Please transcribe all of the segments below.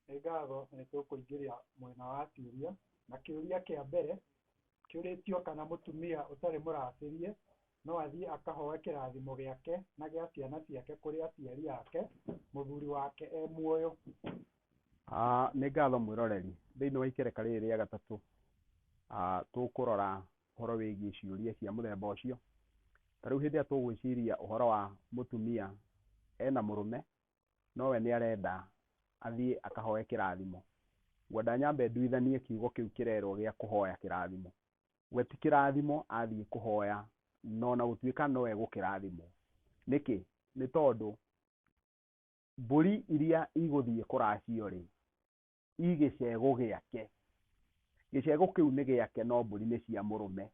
Nĩ ngatho nĩ tũkũingĩria mwena wa ciũria, na kĩũria kĩa mbere kĩũrĩtio kana mũtumia ũtarĩ mũracĩrie no athiĩ akahoe kĩrathimo gĩake na gĩa ciana ciake kũrĩ aciari ake mũthuri wake e muoyo? Nĩ ngatho mwĩroreri, thĩinĩ wa ikereka rĩrĩ rĩa gatatũ tũkũrora ũhoro wĩgiĩ ciũria cia mũthemba ũcio. Ta rĩu hĩndĩ ĩrĩa tũgwĩciria ũhoro wa mũtumia ena mũrũme no we nĩ arenda athiĩ akahoe kĩrathimo, ngwenda nyambe nduithanie kiugo kĩu kĩrerwo gĩa kũhoya kĩrathimo. We ti kĩrathimo athiĩ kũhoya na o na gũtuĩka no egũkĩrathimwo. Nĩkĩ? Nĩ tondũ mbũri iria igũthiĩ kũracio-rĩ, i gĩcegũ gĩake. Gĩcegũ kĩu nĩ gĩake no mbũri nĩ cia mũrũme.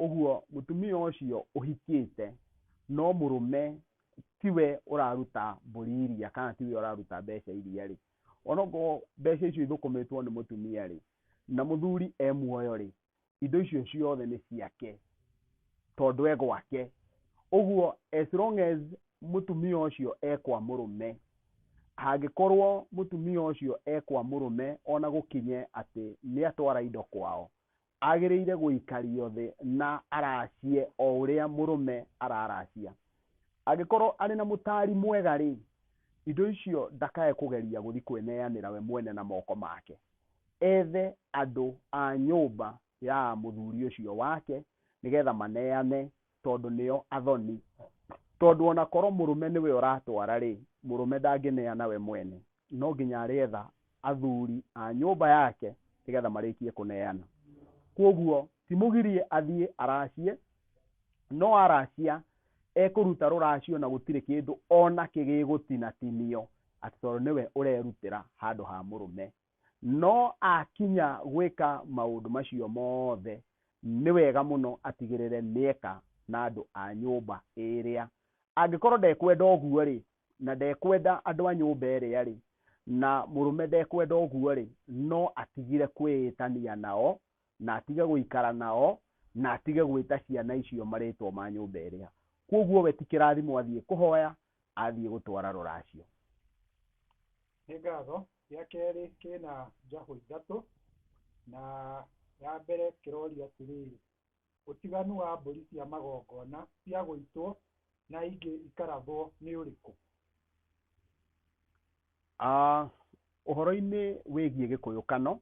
Ũguo mũtumia ũcio ũhikĩte no mũrũme tiwe ũraruta mbũri iria kana tiwe ũraruta mbeca iria rĩ, onokorwo mbeca icio ithũkũmĩtwo nĩ mũtumia rĩ, na mũthuri e muoyo rĩ, indo icio ciothe nĩ ciake tondũ e gwake ũguo as long as mũtumia ũcio e kwa mũrũme angĩkorwo mũtumia ũcio e kwa mũrũme ona gũkinye atĩ nĩ atwara indo kwao agĩrĩire gũikario thĩ na aracie o ũrĩa mũrũme araracia angĩkorwo arĩ na mũtari mwega rĩ indo icio ndakae kũgeria gũthiĩ kwĩneanĩra we mwene na moko make ethe andũ a nyũmba ya mũthuri ũcio wake nĩgetha maneane tondũ nĩo athoni. Tondũ o na korwo mũrũme nĩwe ũratwara-rĩ, mũrũme ndangĩneana we mwene, no nginya arĩetha athuri a nyũmba yake nĩgetha marĩkie kũneana. Kwoguo timũgirie athiĩ aracie, no aracia Ekũruta rũracio na gũtirĩ kĩndũ o nakĩ gĩgũtinatinio atĩ tondũ nĩwe ũrerutĩra handũ ha mũrũme. No akinya gwĩka maũndũ macio mothe, nĩ wega mũno atigĩrĩre nĩ eka na andũ a nyũmba ĩrĩa. Angĩkorwo ndekwenda ũguo-rĩ, na ndekwenda andũ a nyũmba ĩrĩa-rĩ, na mũrũme ndekwenda ũguo-rĩ, no atigire kwĩĩtania nao na atige gũikara nao, na atige gwĩta ciana icio marĩtwa ma nyũmba ĩrĩa. Kwoguo we ti kĩrathimo athiĩ kũhoya, athiĩ gũtwara rũracio. Nĩ ngatho. Gĩa kerĩ kĩna njahũ ithatũ, na ya mbere kĩroria atĩrĩrĩ, Ũtiganu wa mbũri cia magongona cia gũitwo na ingĩ ikarathwo nĩ ũrĩkũ? Ũhoro-inĩ wĩgiĩ gĩkũyũkano,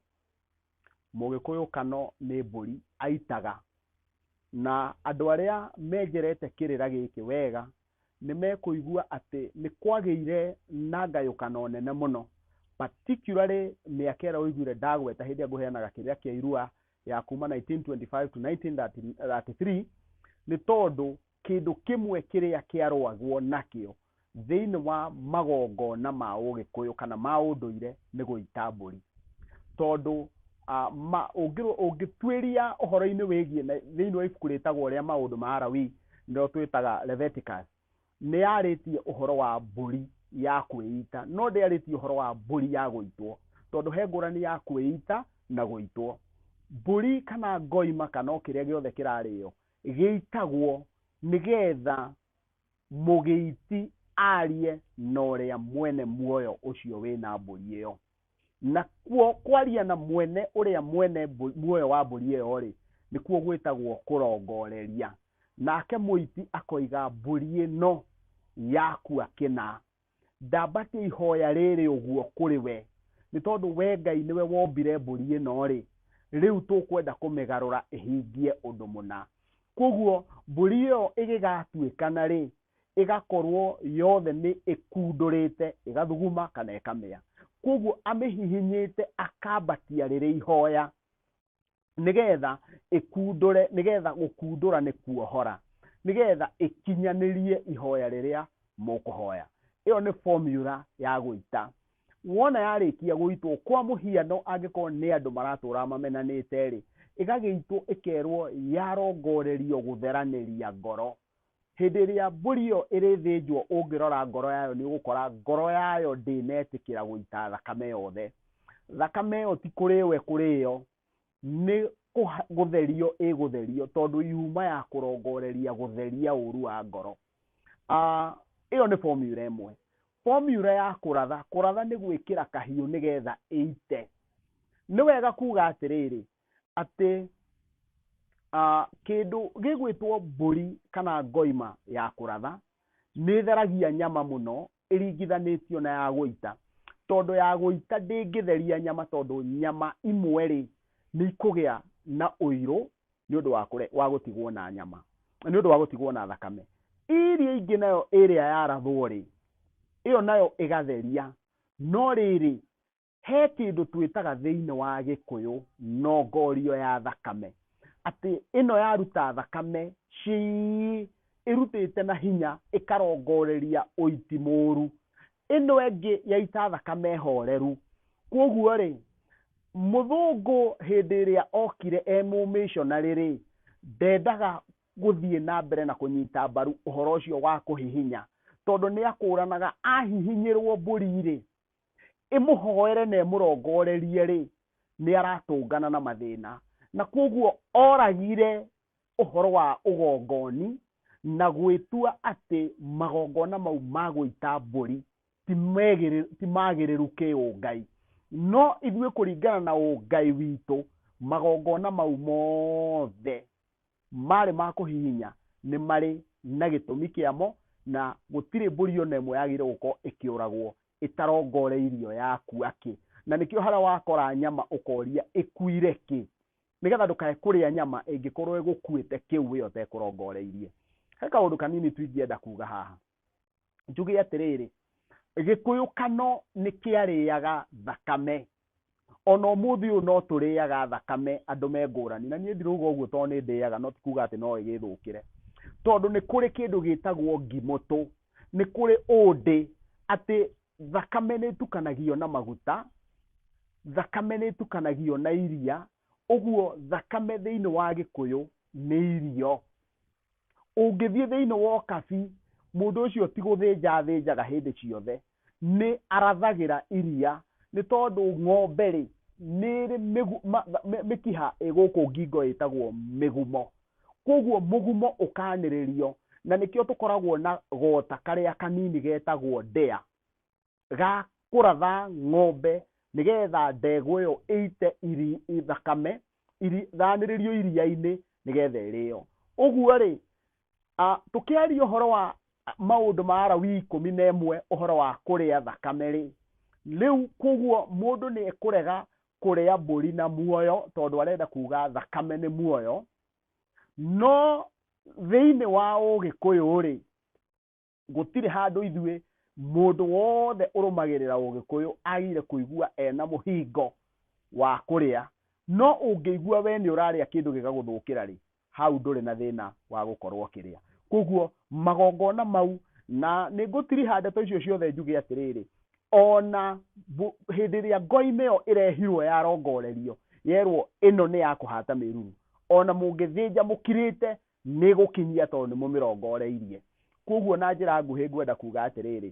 Mũgĩkũyũ Kano nĩ mbũri aitaga. Na andũ arĩa menjerete kĩrĩra gĩkĩ wega nĩ mekũigua atĩ nĩ kwagĩire na ngayũkano nene mũno, particularly mĩaka ĩrĩa ũiguire ndagweta hĩndĩ ĩrĩa ngũheanaga kĩrĩra kĩa Irua ya kuma 1925 to 1933, nĩ tondũ Kĩndũ kĩmwe kĩrĩa kĩarũagwo nakĩo thĩinĩ wa magongona ma Ũgĩkũyũ kana ma ũndũire nĩ gũita mbũri. Tondũ ũngĩtuĩria ũhoro-inĩ wĩgiĩ thĩinĩ wa ibuku rĩtagwo rĩa maũndũ ma Alawii nĩrĩo twĩtaga Leviticus, nĩ yarĩtie ũhoro wa mbũri ya kwĩita no ndĩarĩtie ũhoro wa mbũri ya gũitwo. Tondũ he ngũrani ya kwĩita na gũitwo. Mbũri kana ngoima kana o kĩrĩa gĩothe kĩrarĩo gĩitagwo nĩgetha mũgĩiti arie na ũrĩa mwene muoyo ũcio wĩna mbũri ĩyo na kuo kwaria na mwene ũrĩa mwene mbũ- muoyo wa mbũri ĩyo rĩ nĩkuo gwĩtagwo kũrongoreria nake mũiti akoiga mbũri ĩno yakua kĩna Ndambatia ihoya rĩrĩ ũguo kũrĩ we, nĩ tondũ we Ngai nĩwe wombire mbũri ĩno-rĩ, rĩu tũkwenda kũmĩgarũra ĩhingie ũndũ mũna. Kwoguo mbũri ĩyo ĩgĩgatuĩkana-rĩ, ĩgakorwo yothe nĩ ĩkundũrĩte, ĩgathuguma kana ĩkamĩa. Kwoguo amĩhihinyĩte akambatia rĩrĩ ihoya, nĩgetha ĩkundũre, nĩgetha gũkundũra nĩ kuohora, nĩgetha ĩkinyanĩrie ihoya rĩrĩa mũkũhoya. Ĩyo nĩ formula ya gũita. Wona yarĩkia gũitwo, kwa mũhiano angĩkorwo nĩ andũ maratũra mamenanĩte-rĩ, ĩgagĩitwo ĩkerwo yarongorerio gũtheranĩria ngoro. Hĩndĩ ĩrĩa mbũri ĩyo ĩrĩthĩnjwo ũngĩrora ngoro yayo nĩ ũgũkora ngoro yayo ndĩnetĩkĩra gũita thakame yothe. Thakame ĩyo ti kũrĩo ĩkũrĩo, nĩ gũtherio ĩgũtherio tondũ yuma ya kũrongoreria gũtheria ũru wa ngoro. Ĩyo nĩ formula ĩmwe. Formula ya kũratha, kũratha nĩ gwĩkĩra kahiũ nĩgetha ĩite. Nĩ wega kuga atĩrĩrĩ, atĩ kĩndũ gĩgwĩtwo mbũri kana ngoima ya kũratha, nĩ ĩtheragia nyama mũno ĩringithanĩtio na ya gũita. Tondũ ya gũita ndĩngĩtheria nyama tondũ nyama imwe rĩ, nĩ ikũgĩa na ũirũ nĩ ũndũ wa gũtigwo na nyama, nĩ ũndũ wa gũtigwo na thakame. Ĩrĩa ĩngĩ nayo ĩrĩa yarathwo rĩ, ĩyo nayo ĩgatheria. No rĩrĩ, he kĩndũ twĩtaga thĩinĩ wa gĩkũyũ nongorio ya thakame atĩ ĩno yaruta thakame cii ĩrutĩte na hinya ĩkarongoreria ũiti mũru ĩno ĩngĩ yaita thakame horeru kwoguo rĩ mũthũngũ hĩndĩ ĩrĩa okire e mũmĩshonarĩ rĩ ndendaga gũthiĩ na mbere na kũnyita mbaru ũhoro ũcio wa kũhihinya tondũ nĩ akũranaga ahihinyĩrwo mbũri rĩ ĩmũhoere na ĩmũrongorerie rĩ nĩ aratũngana na mathĩna na kwoguo oragire ũhoro wa ũgongoni na gwĩtua atĩ magongona mau ma gũita mbũri ti megĩrĩ- ti magĩrĩru kĩũngai no ithuĩ kũringana na ũngai witũ magongona mau mothe maarĩ ma kũhihinya nĩ marĩ na gĩtũmi kĩamo, na gũtirĩ mbũri o na ĩmwe yagĩrĩirwo gũkorwo ĩkĩũragwo ĩtarongoreirio yakua kĩ. Na nĩkĩo harĩa wakora nyama ũkoria ĩkuire kĩ, nĩgetha ndũkae kũrĩa nyama ĩngĩkorwo ĩgũkuĩte kĩu we ũtekũrongoreirie. He kaũndũ kanini tu ingĩenda kuuga haha. njuge atĩrĩrĩ gĩkũyũkano nĩ kĩarĩaga thakame ona ũmũthĩ ũyũ no tũrĩaga thakame andũ me ngũrani na niĩ ndirauga ũguo tondũ nĩ ndĩaga no ti kuga atĩ no ĩgĩthũkĩre tondũ nĩ kũrĩ kĩndũ gĩtagwo ngimũtũ nĩ kũrĩ ũndĩ atĩ thakame nĩ ĩtukanagio na maguta thakame nĩ ĩtukanagio na iria ũguo thakame thĩinĩ wa gĩkũyũ nĩ irio ũngĩthiĩ thĩinĩ wa ũkabi, mũndũ ũcio ti gũthĩnja athĩnjaga hĩndĩ ciothe, nĩ arathagĩra iria, nĩ tondũ ng'ombe rĩ, nĩ ĩrĩ mĩkiha ĩ gũkũ ngingo ĩtagwo mĩgumo, kwoguo mũgumo ũkanĩrĩrio, na nĩkĩo tũkoragwo na gota karĩa kanini getagwo ndĩa. ga kũratha ng'ombe nĩgetha ndegwa ĩyo ĩite thakame ithanĩrĩrio iria-inĩ nĩgetha ĩrĩo. Ũguo-rĩ, tũkĩaria ũhoro wa maũndũ ma Alawii ikũmi na ĩmwe ũhoro wa kũrĩa thakame-rĩ, rĩu koguo mũndũ nĩ ekũrega kũrĩa mbũri na muoyo tondũ arenda kuga thakame nĩ muoyo, no thĩiniĩ wa ũgĩkũyũ-rĩ, gũtirĩ handũ ithuĩ mũndũ wothe ũrũmagĩrĩra ũgĩkũyũ agĩire kũigua ena mũhingo wa kũrĩa no ũngĩigua we nĩ ũrarĩa kĩndũ gĩgagũthũkĩra rĩ hau ndũrĩ na thĩna wa gũkorwo ũkĩrĩa koguo magongona mau na nĩ ngũtiriha ndeto icio ciothe njuge atĩrĩrĩ ona hĩndĩ ĩrĩa ngoinĩ ĩyo ĩrehirwo yarongorerio yerwo ĩno nĩ ya kũhata mĩruru ona mũngĩthĩnja mũkirĩte Nĩ gũkinyia tondũ nĩ mũmĩrongoreirie. Kwoguo na njĩra nguhĩ ngwenda kuuga atĩrĩrĩ,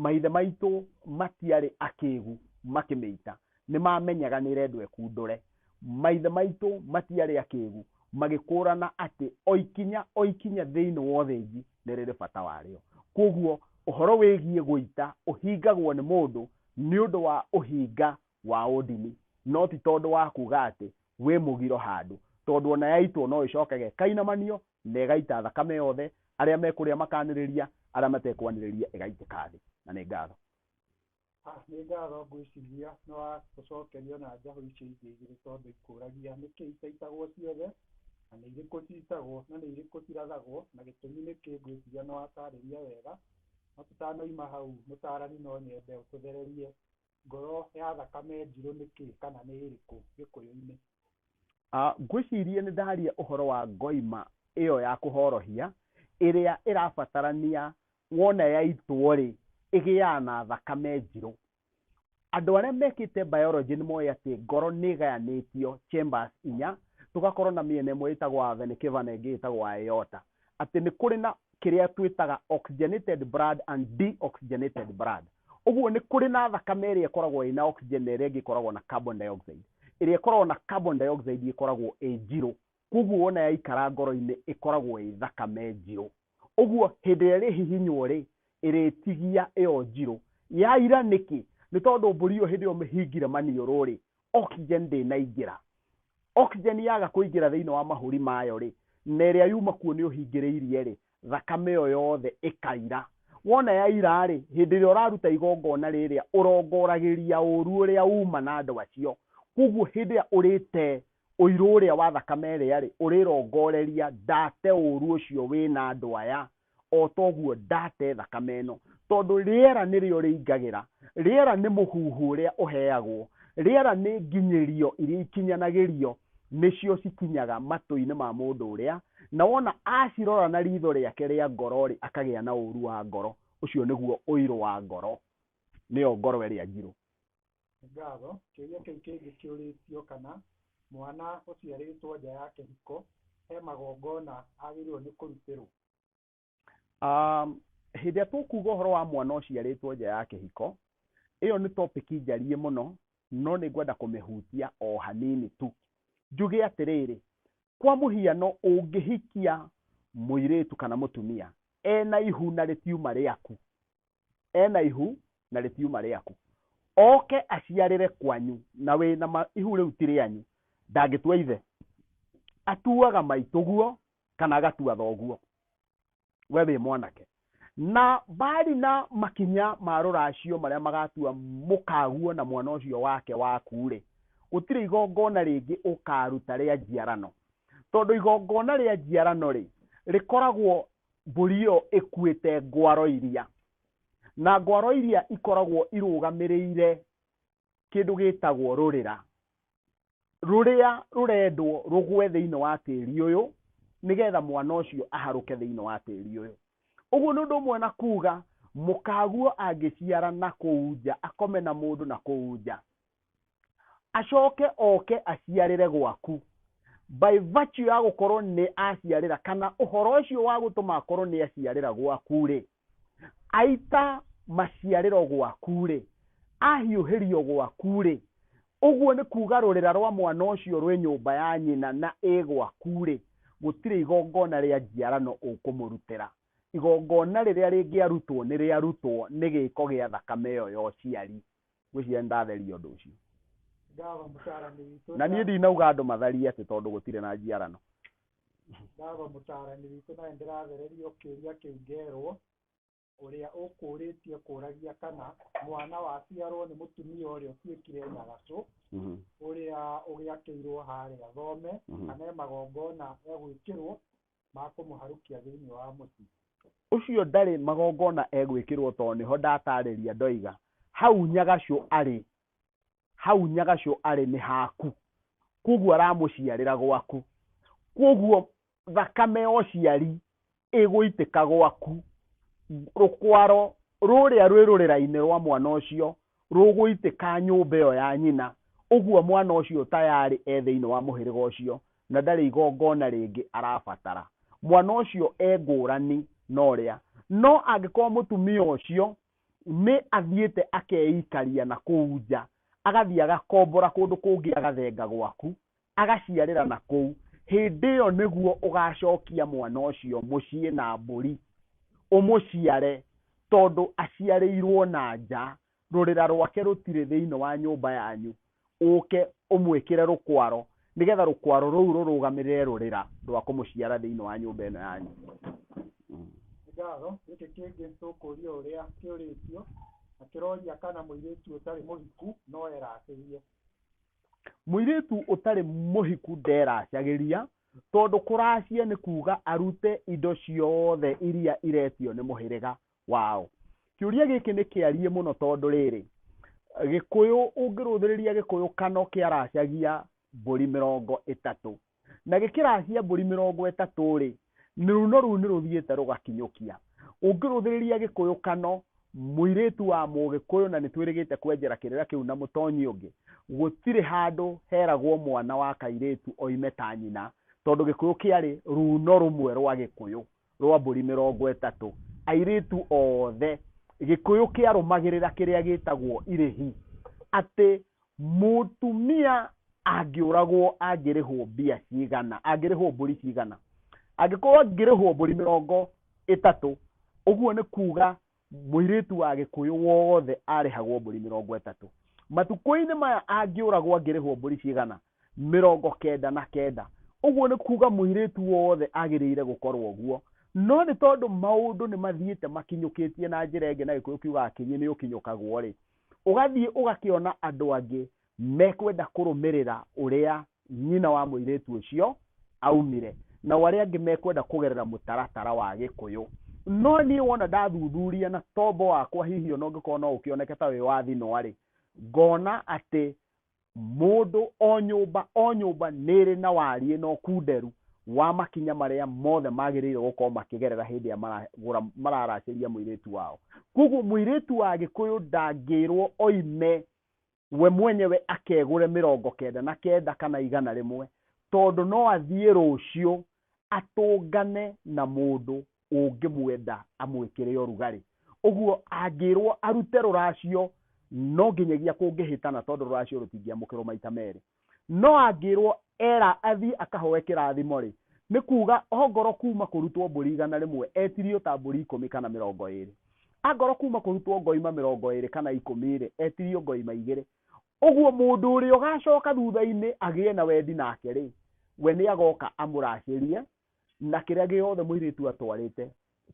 maithe maitũ matiarĩ akĩgu makĩmĩita. Nĩ mamenyaga nĩ ĩrendwo ĩkundũre. Maithe maitũ matiarĩ akĩgu magĩkũrana atĩ o ikinya o ikinya thĩinĩ wa ũthĩnji nĩ rĩrĩ bata warĩo. Kwoguo ũhoro wĩgiĩ gũita ũhingagwo nĩ mũndũ nĩ ũndũ wa ũhinga wa ũndini, no ti tondũ wa kuuga atĩ wĩ mũgiro handũ, tondũ o na yaitwo no ĩcoke ge kainamanio na ĩgaita thakame yothe, arĩa mekũrĩa makanĩrĩria, arĩa matekwanĩrĩria ĩgaitĩka thĩ. Na nĩ ngatho. A Nĩ ngatho, ngwĩciria nĩ wa gũcokerio na njahũ icio ingĩ igĩrĩ tondũ ikũũragia nĩkĩ itaitagwo ciothe, na nĩ irĩkũ ciitagwo, na nĩ irĩkũ cirathagwo, na gĩtũmi nĩkĩ, ngwĩciria nĩ wataarĩria wega. No tũtanoima hau, mũtaarani no nyende ũtũthererie ngoro ya thakame njirũ nĩ kĩ kana nĩ ĩrĩkũ gĩkũyũ-inĩ? Ah, ngwĩciria nĩ ndaria ũhoro wa ngoima ĩyo ya kũhorohia ĩrĩa ĩrabatarania wona yaitwo rĩ ĩgĩaga na thakame njirũ. Andũ arĩa mekĩte biology nĩ moĩ atĩ ngoro nĩ ĩgayanĩtio chambers inya, tũgakorwo na mĩena ĩmwe ĩtagwo a vena cava na ĩngĩ ĩtagwo aorta. atĩ nĩ kũrĩ na kĩrĩa twĩtaga oxygenated blood and deoxygenated blood. Ũguo nĩ kũrĩ na thakame ĩrĩa ĩkoragwo ĩna oxygen na ĩrĩa ĩngĩ ĩkoragwo na carbon dioxide. Ĩrĩa ĩkoragwo na carbon dioxide ĩkoragwo ĩ njirũ, koguo wona yaikara ngoro-inĩ ĩkoragwo ĩ thakame njirũ. Ũguo hĩndĩ ĩrĩa ĩrĩhihinywo rĩ, ĩrĩtigia ĩyo njirũ. Yaira nĩkĩ? Nĩ tondũ mbũri ĩyo hĩndĩ ĩyo ũmĩhingire maniũrũ rĩ, oxygen ndĩnaingĩra oxygen yaga kũingĩra thĩinĩ wa mahũri mayo rĩ na ĩrĩa yuma kuo nĩ ũhingĩrĩirie rĩ thakame ĩyo yothe ĩkaira wona yaira rĩ hĩndĩ ĩrĩa ũraruta igongona rĩrĩa ũrongoragĩria ũru ũrĩa uma na andũ acio koguo hĩndĩ ĩrĩa ũrĩte ũirũ ũrĩa wa thakame ĩrĩa rĩ ũrĩrongoreria ndate ũru ũcio wĩna andũ aya o ta ũguo ndate thakame ĩno, tondũ rĩera nĩrĩo rĩingagĩra, rĩera nĩ mũhuhu ũrĩa ũheagwo, rĩera nĩ nginyĩrio iria ikinyanagĩrio, nĩcio cikinyaga matũ-inĩ ma mũndũ ũrĩa, na wona acirora na riitho rĩake rĩa ngoro-rĩ, akagĩa na ũũru wa ngoro, ũcio nĩguo ũirũ wa ngoro, nĩyo ngoro ĩrĩa njirũ. Ngatho. Kĩũria kĩu kĩngĩ kĩũrĩtio kana mwana ũciarĩtwo nja ya kĩhiko he magongona agĩrĩirwo nĩ kũrutĩrwo. Hĩndĩ ĩrĩa tũkuga ũhoro wa mwana ũciarĩtwo nja ya kĩhiko, ĩyo nĩ topic njariĩ mũno, no nĩ ngwenda kũmĩhutia o hanini tu. Njuge atĩrĩrĩ, kwa mũhiano ũngĩhikia mũirĩtu kana mũtumia ena ihu na rĩtiuma rĩaku, ena ihu na rĩtiuma rĩaku oke aciarĩre kwanyu na wĩ na ma- ihu rĩu ti rĩanyu ndangĩtua ithe atuaga maitũguo kana agatua thoguo we wĩ mwanake na mbari na makinya ma rũracio marĩa magatua mũkaguo na mwana ũcio wake waku-rĩ gũtirĩ igongona rĩngĩ ũkaruta rĩa njiarano tondũ igongona rĩa njiarano-rĩ rĩkoragwo Mbũri ĩyo ĩkuĩte ngwaro iria, na ngwaro iria ikoragwo irũgamĩrĩire kĩndũ gĩtagwo rũrĩra, rũrĩa rũrendwo rũgwe thĩinĩ wa tĩri ũyũ, nĩgetha mwana ũcio aharũke thĩinĩ wa tĩri ũyũ. Ũguo nĩ ũndũ ũmwe na kuuga mũkaguo angĩciara na kũu nja, akome na mũndũ na kũu nja, acoke oke aciarĩre gwaku by virtue ya gũkorwo nĩ aciarĩra kana ũhoro ũcio wa gũtũma akorwo nĩ aciarĩra gwaku rĩ aita maciarĩro gwaku rĩ ahiũhĩrio gwaku rĩ ũguo nĩ kuga rũrĩra rwa mwana ũcio rwĩ nyũmba ya nyina na ĩ gwaku rĩ gũtirĩ igongona rĩa njiarano ũkũmũrutĩra igongona rĩrĩa rĩngĩarutwo nĩ rĩarutwo nĩ gĩko gĩa thakame ĩyo ya ũciari ngwĩciria nĩ ndatheria ũndũ ũcio. Baba mũtaarani witũ. Na niĩ ndinauga andũ matharie atĩ tondũ gũtirĩ na njiarano. Baba mũtaarani witũ nawe ndĩrathererio kĩũria kĩu ngerwo ũrĩa ũkũũrĩtie kũũragia kana mwana waciarwo nĩ mũtumia ũrĩa ũtuĩkire nyagacũ mhm. ũrĩa ũgĩakĩirwo harĩa thome mhm. kana e magongona egwĩkĩrwo ma kũmũharũkia thĩinĩ wa mũciĩ. Ũcio ndarĩ magongona egwĩkĩrwo tondũ nĩho ndataarĩria ndoiga, Hau Nyagacũ arĩ, hau Nyagacũ arĩ nĩ haku, kwoguo aramũciarĩra gwaku, kwoguo thakame ya ũciari ĩgũitĩka gwaku, rũkwaro rũrĩa rwĩ rũrĩra-inĩ rwa mwana ũcio rũgũitĩka nyũmba ĩyo ya nyina, ũguo mwana ũcio tayarĩ e thĩinĩ wa mũhĩrĩga ũcio na ndarĩ igongona rĩngĩ arabatara. Mwana ũcio e ngũrani na ũrĩa. No angĩkorwo mũtumia ũcio nĩ athiĩte akeikaria na kũu nja, agathiĩ agakombora kũndũ kũngĩ agathenga gwaku, agaciarĩra na kũu, hĩndĩ ĩyo nĩguo ũgaacokia mwana ũcio mũciĩ na mbũri, ũmũciare, tondũ aciarĩirũo na nja, rũrĩra rwake rũtirĩ thĩinĩ wa nyũmba yanyu, ũũke ũmwĩkĩre rũkwaro, nĩgetha rũkwaro rũu rũrũgamĩrĩre rũrĩra rwa kũmũciara thĩinĩ wa nyũmba ĩno yanyu. Ngatho, gĩkĩ kĩngĩ tũkũũria ũrĩa kĩũrĩtio, na kĩroria kana mũirĩtu ũtarĩ mũhiku no eracĩrie. mũirĩtu ũtarĩ mũhiku nderacagĩria tondũ kũracia nĩ kuga arute indo ciothe iria iretio nĩ mũhĩrĩga wao kĩũria gĩkĩ nĩ kĩarie mũno tondũ rĩrĩ gĩkũyũ ũngĩrũthĩrĩria gĩkũyũ kano kĩaracagia mbũri mĩrongo ĩtatũ na gĩkĩrahia mbũri mĩrongo ĩtatũ-rĩ, rũno rũu nĩrũthiĩte rũgakinyũkia. Ũngĩrũthĩrĩria gĩkũyũkano, mũirĩtu wa mũgĩkũyũ na nĩtwĩrĩgĩte kwenjera kĩrĩra kĩu na mũtonyi ũngĩ, gũtirĩ handũ heragwo mwana wa kairĩtu oime ta nyina, tondũ gĩkũyũ kĩarĩ rũno rũmwe rwa gĩkũyũ. rwa mbũri mĩrongo ĩtatũ, airĩtu othe, Gĩkũyũ kĩarũmagĩrĩra kĩrĩa gĩtagwo irĩhi, atĩ mũtumia angĩũragwo angĩrĩhwo mbia cigana, angĩrĩhwo mbũri cigana. Angĩkorwo angĩrĩhwo mbũri mĩrongo ĩtatũ, ũguo nĩ kuuga mũirĩtu wa gĩkũyũ wothe arĩhagwo mbũri mĩrongo ĩtatũ matukũ-inĩ maya angĩũragwo angĩrĩhwo mbũri cigana mĩrongo kenda na kenda ũguo nĩ kuga mũirĩtu wothe agĩrĩire gũkorwo ũguo no nĩ tondũ maũndũ nĩ mathiĩte makinyũkĩtie na njĩra ĩngĩ na gĩkũyũ kiugaga kĩnyĩ nĩ ũkinyũkagwo rĩ ũgathiĩ ũgakĩona andũ angĩ mekwenda kũrũmĩrĩra ũrĩa nyina wa mũirĩtu ũcio aumire, nao arĩa angĩ mekwenda kũgerera mũtaratara wa Gĩkũyũ. No niĩ wona ndathuthuria na tombo wakwa hihi ona ũngĩkorwo no ũkĩoneke ta wĩ wa thinwa-rĩ, ngona atĩ mũndũ o nyũmba o nyũmba nĩ ĩrĩ na wariĩ na ũkunderu wa makinya marĩa mothe magĩrĩirwo gũkorwo makĩgerera hĩndĩ ĩrĩa maragũra mararacĩria mũirĩtu wao. Kuoguo mũirĩtu wa Gĩkũyũ ndangĩrwo oime we mwenyewe akegũre mĩrongo kenda na kenda kana igana rĩmwe tondũ no athiĩ rũciũ atũngane na mũndũ ũngĩmwenda amwĩkĩre ũrugarĩ ũguo angĩrwo arute rũracio no nginyagia kũngĩhĩtana tondũ rũracio rũtingĩamũkĩrwo maita merĩ No angĩĩrwo Ela athiĩ akahoe kĩrathimo-rĩ, nĩ kuuga ongorwo kuuma kũrutwo mbũri igana rĩmwe etirio ta mbũri ikũmi kana mĩrongo ĩĩrĩ. Angorwo kuuma kũrutwo ngoima mĩrongo ĩĩrĩ kana ikũmi-rĩ, etirio ngoima igĩrĩ. Ũguo mũndũ ũrĩa ũgacooka thutha-inĩ agĩe na wendi nake-rĩ, we nĩagooka amũracĩrie, na kĩrĩa gĩothe mũirĩtu atwarĩte,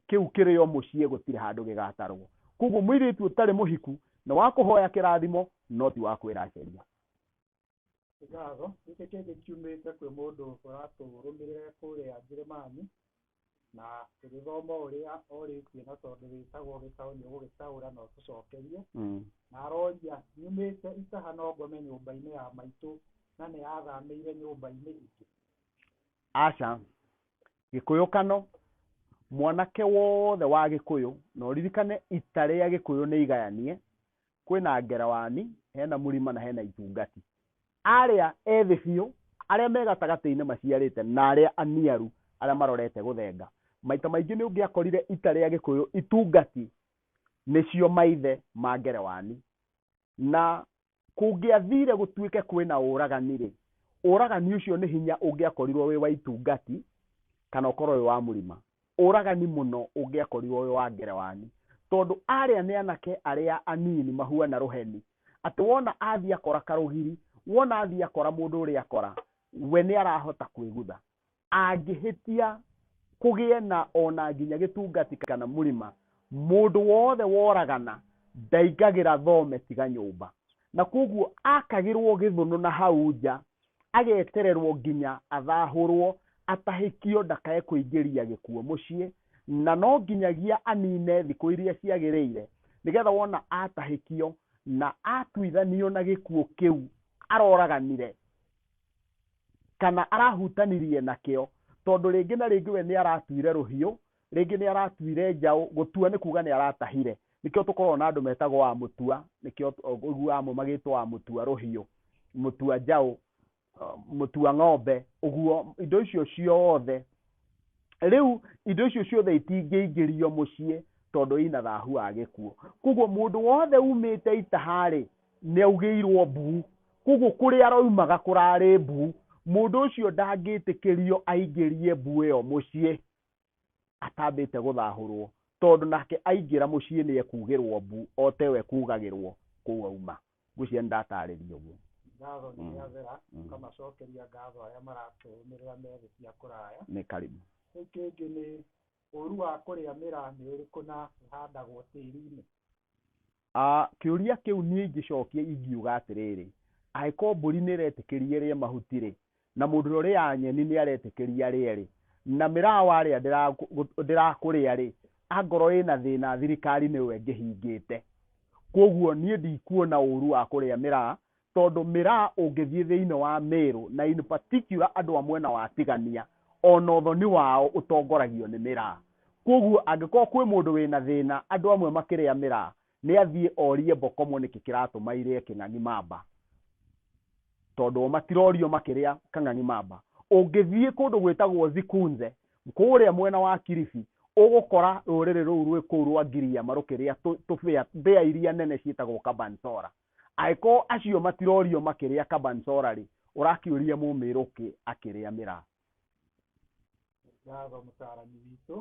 kĩu kĩrĩ o mũciĩ gũtirĩ handũ gĩgatarwo. Kwoguo mũirĩtu ũtarĩ mũhiku nĩ wa kũhoya kĩrathimo no ti wa kwĩracĩria. Ngatho gĩkĩ kĩngĩ kiumĩte kwĩ mũndũ ũratũrũmĩrĩra e kũrĩa Njĩrĩmani, na tũgĩthoma ũrĩa orĩtie na tondũ wĩtagwo gĩcaũ nĩ ũgũgĩcaũra na ũtũcokerie, na aroria nyumĩte Itaha no ngome nyũmba-inĩ ya maitũ na nĩ athamĩire nyũmba-inĩ ingĩ? Aca, gĩkũyũ kano, mwanake wothe wa gĩkũyũ, na ũririkane ita rĩa gĩkũyũ nĩ igayanie, Kwĩna ngerewani, hena mũrima na hena itungati. Arĩa ethĩ biũ, arĩa me gatagatĩ-inĩ maciarĩte na arĩa aniaru arĩa marorete gũthenga. Maita maingĩ nĩ ũngĩakorire ita rĩa Gĩkũyũ, itungati, nĩcio maithe ma ngerewani. Na kũngĩathire gũtuĩke kwĩna ũragani-rĩ, ũragani ũcio nĩ hinya ũngĩakorirwo wĩ wa itungati kana ũkorwo wĩ wa mũrima. Ũragani mũno ũngĩakorirwo wĩ wa Ngerewani, tondũ arĩa nĩ anake arĩa anini mahuana rũheni, atĩ wona athiĩ akora karũgiri, wona athiĩ akora mũndũ ũrĩa akora, we nĩ arahota kwĩgutha. Angĩhĩtia kũgĩe na o na nginya gĩtungati kana mũrima, mũndũ wothe woragana ndaingagĩra thome tiga nyũmba. Na kwoguo akagĩrwo gĩthũnũ na hau nja agetererwo nginya athahũrwo atahĩkio ndakae kũingĩria gĩkuo mũciĩ na no nginyagia anine thikũ iria ciagĩrĩire nĩgetha wona atahĩkio na atuithanio na gĩkuo kĩu aroraganire kana arahutanirie nakĩo tondũ rĩngĩ na rĩngĩ we nĩ aratuire rũhiũ Rĩngĩ nĩ aratuire njaũ, gũtua nĩ kuuga nĩ aratahire. Nĩkĩo tũkoragwo na andũ metagwo wa mũtua, nĩkĩo ũiguaga amwe magĩtwo wa mũtua rũhiũ, mũtua njaũ, mũtua ng'ombe, ũguo, indo icio ciothe. Rĩu indo icio ciothe itingĩingĩrio mũciĩ tondũ ina thahu wa gĩkuũ. Koguo mũndũ wothe umĩte itaha-rĩ, nĩ augĩirwo mbu. Koguo kũrĩa aroimaga kũrarĩ mbu. Mũndũ ũcio ndangĩtĩkĩrio aingĩrie mbu ĩyo mũciĩ. atambĩte gũthahũrwo tondũ nake aingĩra mũciĩ nĩ ekugĩrwo mbu o ta ĩyo ekugagĩrwo kũu auma. Ngwĩciria nĩ ndatarĩria ũguo. Ngatho nĩ Mm. rĩathera, Mm. ũkamacokeria ngatho arĩa maratũrũmĩrĩra me thĩ cia kũraya. Nĩ karibu. Kĩu kĩngĩ nĩ ũru wa kũrĩa mĩraa nĩ ũrĩkũ na ĩhandagwo tĩri-inĩ. Kĩũria kĩu niĩ ingĩcokia ingiuga atĩrĩrĩ, angĩkorwo mbũri nĩ ĩretĩkĩria ĩrĩe mahuti-rĩ, na mũndũ ũrĩa ũrĩaga nyeni nĩ aretĩkĩria arĩe-rĩ, na mĩraa warĩa ndĩrakũrĩa-rĩ, angorwo ĩna thĩna thirikari nĩyo ĩngĩhingĩte. Kuoguo niĩ ndikuona ũru wa kũrĩa mĩraa tondũ mĩraa ũngĩthiĩ thĩinĩ wa Mĩrũ na in particular andũ a mwena wa Tigania ona ũthoni wao ũtongoragio nĩ mĩraa. Kwoguo angĩkorwo kwĩ mũndũ wĩna thĩna andũ amwe makĩrĩa mĩraa nĩ athiĩ orie Mbokomo nĩkĩ kĩratũma irĩe kĩng'ang'i mamba tondũ o matirorio makĩrĩa kang'ang'i mamba. Ũngĩthiĩ kũndũ gwĩtagwo Zikunze kũrĩa mwena wa Kilifi ũgũkora rũrĩrĩ rũu rwĩ kũu rwa Giriama rũkĩrĩa tũbĩa, mbĩa iria nene ciĩtagwo Kabansora. Angĩkorwo acio matirorio makĩrĩa kabansora rĩ, ũrakĩũria mũmĩrũkĩ akĩrĩa mĩraa? Ngatho mũtaarani witũ.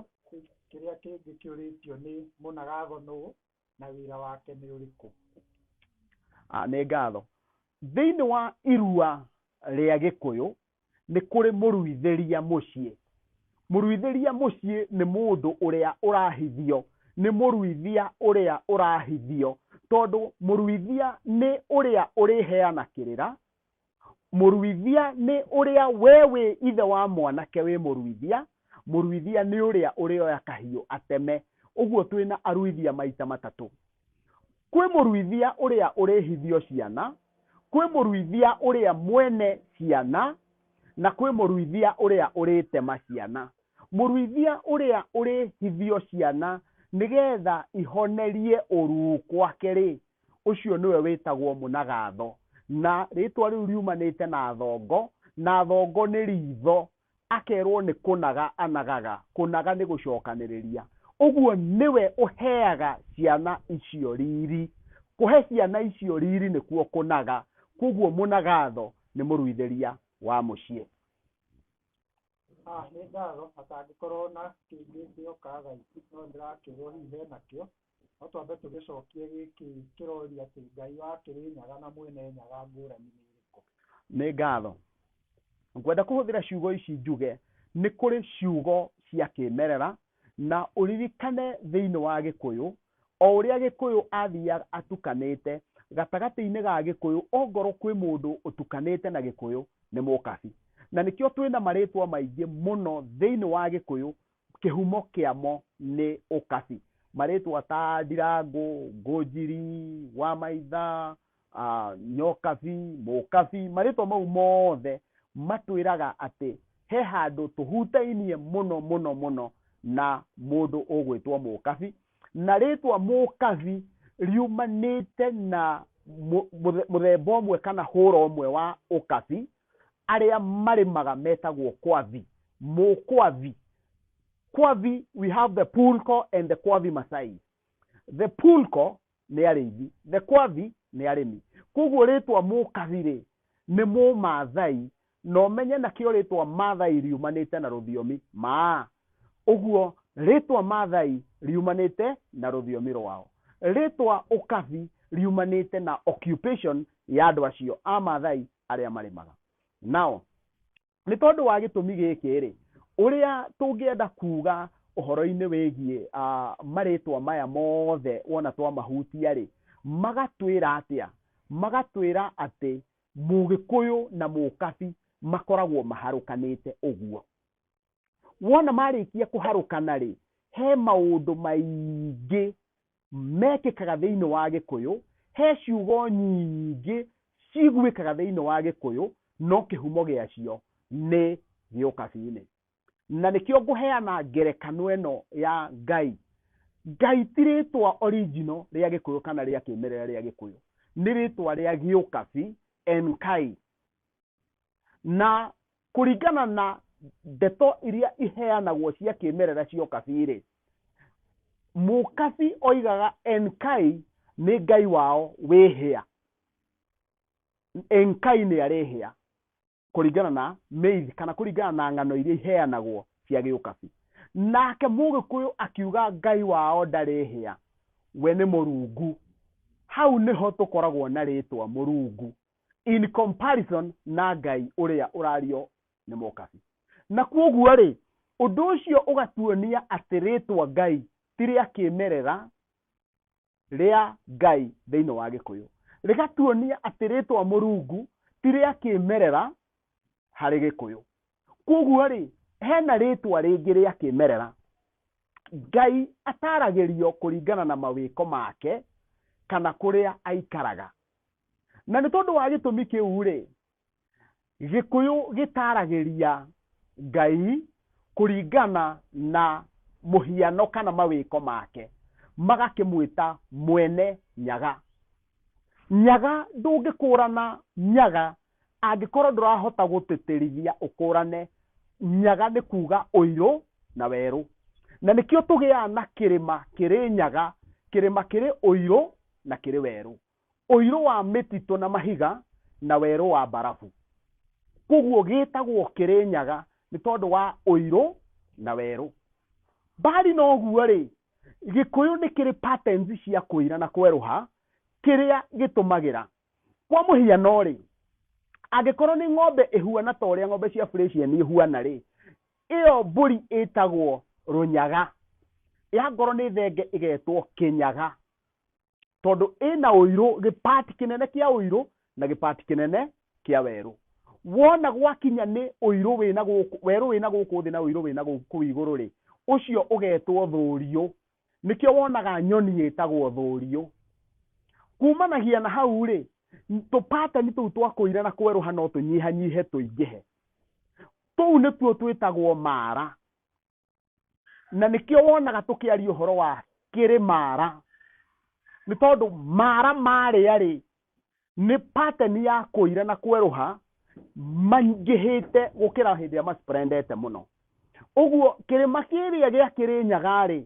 Kĩrĩa kĩngĩ kĩũrĩtio nĩ mũna gatho nũũ na wĩra wake nĩ ũrĩkũ? Nĩ ngatho. Thĩinĩ wa irua rĩa Gĩkũyũ nĩ kũrĩ mũruithĩria mũciĩ. Mũruithĩria mũciĩ nĩ mũndũ ũrĩa ũrahithio, nĩ mũruithia ũrĩa ũrahithio, tondũ mũruithia nĩ ũrĩa ũrĩheana kĩrĩra, mũruithia nĩ ũrĩa we wĩ ithe wa mwanake wĩ mũruithia, mũruithia nĩ ũrĩa ũrĩoya kahiũ ateme. Ũguo twĩna aruithia maita matatũ. Kwĩ mũruithia ũrĩa ũrĩhithio ciana, kwĩ mũruithia ũrĩa mwene ciana, na kwĩ mũruithia ũrĩa ũrĩtema ciana. Mũruithia ũrĩa ũrĩhithio ciana nĩ getha ihonerie ũruu kwake-rĩ, ũcio nĩwe wĩtagwo mũnagatho. Na rĩtwa rĩu riumanĩte na thongo, na thongo nĩ ritho. akerũo nĩ kũnaga anagaga, kũnaga nĩ gũcokanĩrĩria. Ũguo nĩwe ũheaga ciana icio riri. Kũhe ciana icio riri nĩkuo kũnaga, kwoguo mũnagatho nĩ mũruithĩria wa mũciĩ. Haha nĩ ngatho atangĩkorwo na kĩngĩ gĩoka thaici no ndĩrakĩrwo hihi hena kĩo No twambe tũgĩcokie gĩkĩ kĩroria atĩ Ngai wa Kĩrĩnyaga na Mwene Nyaga ngũrani nĩ ĩrĩkũ? Nĩ ngatho. Ngwenda kũhũthĩra ciugo ici njuge nĩ kũrĩ ciugo cia kĩĩmerera, na ũririkane thĩinĩ wa Gĩkũyũ, o ũrĩa Gĩkũyũ athiaga atukanĩte, gatagatĩ-inĩ ga Gĩkũyũ, ongorwo kwĩ mũndũ ũtukanĩte na Gĩkũyũ, nĩ mũkabi. Na nĩkĩo twĩna marĩtwa maingĩ mũno thĩinĩ wa Gĩkũyũ, Kĩhumo kĩamo nĩ ũkabi. Marĩtwa ta Ndirangũ, Ngũnjiri, Wamaitha, Nyokabi, Mũkabi, marĩtwa mau mothe matwĩraga atĩ he handũ tũhutainie mũno mũno mũno na mũndũ ũgwĩtwo Mũkabi. Na rĩtwa Mũkabi riumanĩte na mũthemba ũmwe kana hũra ũmwe wa ũkabi. arĩa marĩmaga metagwo kwavi mũkwavi kwavi we have the pulko and the kwavi masai the pulko nĩ arĩithi the kwavi nĩ arĩmi koguo rĩtwa mũkavi rĩ nĩ mũmathai na ũmenye nakĩo rĩtwa mathai riumanĩte na rũthiomi maa Ũguo rĩĩtwa Maathai riumanĩte na rũthiomi rwao. Rĩĩtwa Ũkabi riumanĩte na occupation ya andũ acio a Maathai arĩa marĩmaga. Now, nĩ tondũ wa gĩtũmi gĩkĩ-rĩ, ũrĩa tũngĩenda kuuga ũhoro-inĩ wĩgiĩ marĩĩtwa maya mothe wona twamahutia-rĩ, magatwĩra atĩa? Magatwĩra atĩ Mũgĩkũyũ na Mũkabi makoragwo maharũkanĩte ũguo. wona marĩkia kũharũkana rĩ he maũndũ maingĩ mekĩkaga thĩinĩ wa gĩkũyũ he ciugo nyingĩ ciguĩkaga thĩinĩ wa gĩkũyũ no kĩhumo gĩacio nĩ gĩũkabi-inĩ na nĩkĩo ngũheana ngerekano ĩno ya ngai ngai ti rĩtwa original rĩa gĩkũyũ kana rĩa kĩmerera rĩa gĩkũyũ nĩ rĩtwa rĩa gĩũkabi enkai na kũringana na ndeto iria iheanagwo cia kĩmerera cia ũkabi rĩ mũkabi oigaga enkai nĩ ngai wao wĩhĩa enkai nĩ arĩ hĩa kũringana na mĩithi kana kũringana na ng'ano iria iheanagwo cia gĩũkabi nake mũgĩkũyũ akiuga ngai wao ndarĩ hĩa we nĩ mũrungu hau nĩho tũkoragwo na rĩtwa mũrungu in comparison na ngai ũrĩa ũrario nĩ mokabi na kwoguo rĩ ũndũ ũcio ũgatuonia atĩ rĩtwa ngai ti rĩa kĩmerera rĩa ngai thĩinĩ wa gĩkũyũ rĩgatuonia atĩ rĩtwa mũrungu ti rĩa kĩmerera harĩ gĩkũyũ kwoguo rĩ hena rĩtwa rĩngĩ rĩa kĩmerera ngai ataragĩrio kũringana na mawĩko make kana kũrĩa aikaraga na nĩ tondũ wa gĩtũmi kĩu rĩ gĩkũyũ gĩtaragĩria ngai kũringana na mũhiano kana mawĩko make magakĩmwĩta mwene nyaga nyaga ndũngĩkũrana nyaga Angĩkorũo ndũrahota gũtĩtĩrithia ũkũũrane nyaga nĩ kuuga ũirũ na werũ. Na nĩkĩo tũgĩaga na kĩrĩma kĩrĩ nyaga, kĩrĩma kĩrĩ ũirũ na kĩrĩ werũ, ũirũ wa mĩtitũ na mahiga na werũ wa mbarabu. Kwoguo gĩtagwo kĩrĩ nyaga nĩ tondũ wa ũirũ na werũ. Mbali na ũguo-rĩ, Gĩkũyũ nĩ kĩrĩ patterns cia kũira na kwerũha kĩrĩa gĩtũmagĩra. kwa mũhiano rĩ angĩkorwo nĩ ng'ombe ĩhuana ta ũrĩa ng'ombe cia Fresian ihuana rĩ ĩyo mbũri ĩtagwo rũnyaga ya ngoro nĩ thenge ĩgetwo kĩnyaga tondũ ĩna ũirũ gĩpati kĩnene kĩa ũirũ na gĩpati kĩnene kĩa werũ wona gwakinya nĩ ũirũ wĩna gũkũ werũ wĩna gũkũ thĩ na ũirũ wĩna gũkũ igũrũ rĩ ũcio ũgetwo thũriũ nĩkĩo wonaga nyoni ĩtagwo thũriũ kumanagia na hau rĩ tũpatani tũu twa kũira na kwerũha no tũnyihanyihe tũingĩhe tũu nĩtuo twĩtagwo mara na nĩkĩo wonaga tũkĩaria ũhoro wa kĩrĩ mara nĩ tondũ mara marĩa rĩ nĩ pateni ya kũira na kwerũha maingĩhĩte gũkĩra hĩndĩ ĩrĩa masprendete mũno ũguo kĩrĩma kĩrĩa gĩa kĩrĩ nyagarĩ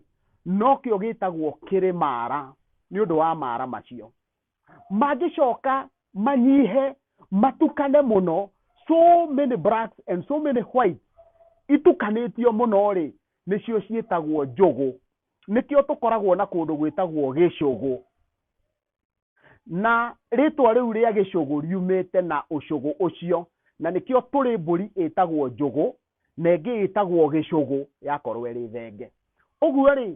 nokĩo gĩtagwo kĩrĩ mara nĩ ũndũ wa mara macio mangĩcoka manyihe matukane mũno so many blacks and so many white itukanĩtio mũno rĩ nĩcio ciĩtagwo njũgũ nĩkĩo tũkoragwo na kũndũ gwĩtagwo gĩcũgũ na rĩtwa rĩu rĩa gĩcũgũ riumĩte na ũcũgũ ũcio na nĩkĩo tũrĩ mbũri ĩtagwo njũgũ na ĩngĩ ĩtagwo gĩcũgũ yakorwo ĩrĩ thenge ũguo rĩ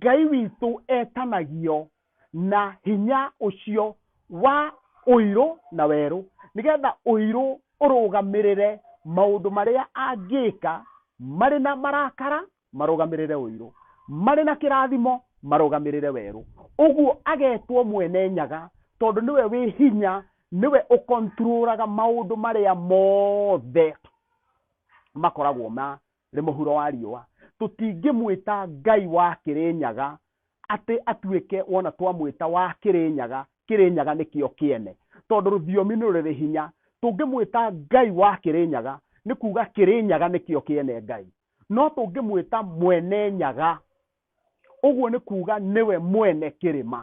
ngai witũ etanagio na hinya ũcio wa ũirũ na werũ nĩgetha ũirũ ũrũgamĩrĩre maũndũ marĩa angĩka marĩ na marakara Marũgamĩrĩre ũirũ. Marĩ na kĩrathimo, marũgamĩrĩre werũ. Ũguo agetwo mwene nyaga, tondũ nĩwe wĩ hinya, nĩwe ũkonturũraga maũndũ marĩa mothe makoragwo marĩ mũhuro wa riũa. Tũtingĩmwĩta Ngai wa Kĩrĩnyaga atĩ atuĩke wona twamwĩta wa Kĩrĩnyaga, Kĩrĩnyaga nĩkĩo kĩene, tondũ rũthiomi nĩ rũrĩ hinya. Tũngĩmwĩta Ngai wa Kĩrĩnyaga, nĩ kuuga Kĩrĩnyaga nĩkĩo kĩene Ngai. no tũngĩmwĩta mwene nyaga, ũguo nĩ kuuga nĩwe mwene kĩrĩma,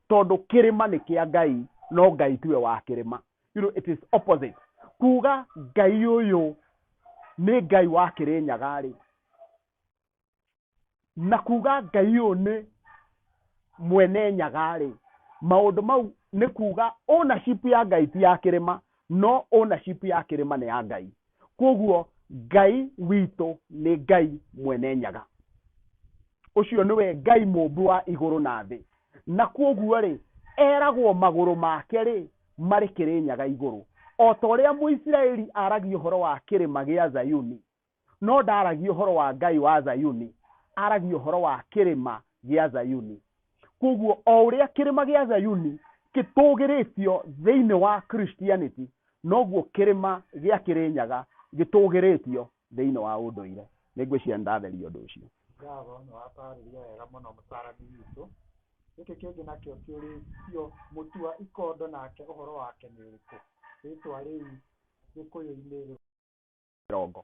tondũ kĩrĩma nĩ kĩa Ngai, no Ngai tiwe wa kĩrĩma. You know, it is opposite. Kuuga Ngai ũyũ nĩ Ngai wa Kĩrĩnyaga-rĩ, na kuuga Ngai ũyũ nĩ mwene nyaga-rĩ, maũndũ mau nĩ kuuga ownership ya Ngai ti ya kĩrĩma, no ownership ya kĩrĩma nĩ ya Ngai. Kwoguo Ngai witũ nĩ Ngai Mwene Nyaga. Ũcio nĩwe Ngai Mũũmbi wa igũrũ na thĩ. Na kwoguo-rĩ, eragwo magũrũ make-rĩ, marĩ Kĩrĩnyaga igũrũ. O ta ũrĩa Mũisiraeli aragia ũhoro wa kĩrĩma gĩa Zayuni, No ndaaragia ũhoro wa Ngai wa Zayuni, aaragia ũhoro wa kĩrĩma gĩa Zayuni. Kwoguo o ũrĩa kĩrĩma gĩa Zayuni gĩtũũgĩrĩtio thĩinĩ wa Christianity, noguo kĩrĩma gĩa Kĩrĩnyaga gĩtũũgĩrĩtio thĩinĩ wa ũndũire. Nĩ ngwĩciria nĩ ndatheria ũndũ ũcio. Ngatho, nĩ wataarĩria wega mũno mũtaarani witũ. Gĩkĩ kĩngĩ nakĩo kĩũrĩtio, mũtua ikondo nake ũhoro wake nĩ ũrĩkũ? Rĩĩtwa rĩu Gĩkũyũ-inĩ rĩ? mĩrongo.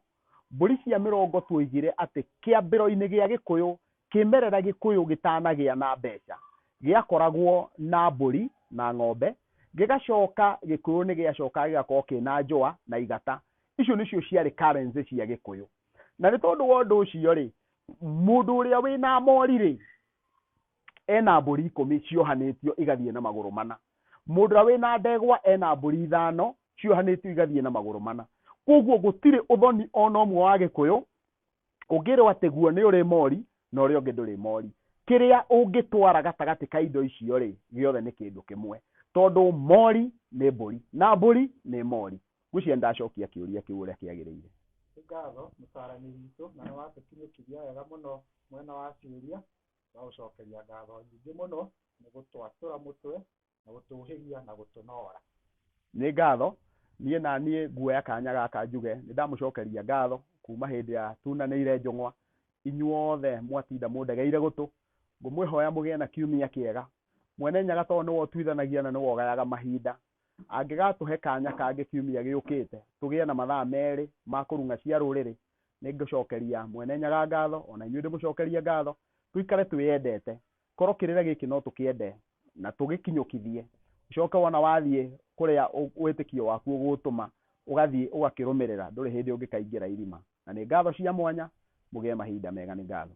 Mbũri cia mĩrongo tuoigire atĩ kĩambĩro-inĩ gĩa Gĩkũyũ, kĩmerera Gĩkũyũ gĩtanagĩa na mbeca, gĩakoragwo na mbũri na ng'ombe, gĩgacoka Gĩkũyũ nĩ gĩacokaga gĩgakorwo kĩna njũa na igata. Icio nĩcio ciarĩ currency cia Gĩkũyũ. Na nĩ tondũ wa ũndũ ũcio-rĩ, mũndũ ũrĩa wĩna mori-rĩ, ena mbũri ikũmi ciohanĩtio igathiĩ na magũrũ mana. Mũndũ ũrĩa wĩ na ndegwa ena mbũri ithano ciohanĩtio igathiĩ na magũrũ mana. Kwoguo gũtirĩ ũthoni o na ũmwe wa Gĩkũyũ ũngĩrwo atĩ guo nĩ ũrĩ mori na ũrĩa ũngĩ ndũrĩ mori. Kĩrĩa ũngĩtwara gatagatĩ ka indo icio rĩ, gĩothe nĩ kĩndũ kĩmwe. Tondũ mori nĩ mbũri na mbũri nĩ mori. Ngwĩciria nĩ ndacokia kĩũria kĩu ũrĩa kĩagĩrĩire. Nĩ ngatho mũcaranĩri witũ na nĩ watũkinyũkiria wega mũno mwena wa ciũria. Twagũcokeria ngatho nyingĩ mũno nĩ gũtwatũra mũtwe, na gũtũũhĩgia, na gũtũnoora. Nĩ ngatho. Niĩ na niĩ nguoya kanya gaka njuge nĩ ndamũcokeria ngatho kuuma hĩndĩ ya tunanĩire njũng'wa. Inyuothe mwatinda mũndegeire gũtũ. Ngũmwĩhoya mũgĩe na kiumia kĩega. Mwene Nyaga tondũ nĩwe ũtuithanagia na nĩwe ũgayaga mahinda, angĩgatũhe kanya kangĩ kiumia gĩũkĩte tũgĩe na mathaa merĩ ma kũrung'a cia rũrĩrĩ, nĩ ngũcokeria Mwene Nyaga ngatho, o na inyuĩ ndĩmũcokerie ngatho, tũikare twĩyendete, korwo kĩrĩra gĩkĩ no tũkĩende na tũgĩkinyũkithie, ũcoke wona wathiĩ kũrĩa wĩtĩkio waku ũgũũtũma, ũgathiĩ ũgakĩrũmĩrĩra, ndũrĩ hĩndĩ ũngĩkaingĩra irima. Na nĩ ngatho cia mwanya, mũgĩe mahinda mega. Nĩ ngatho.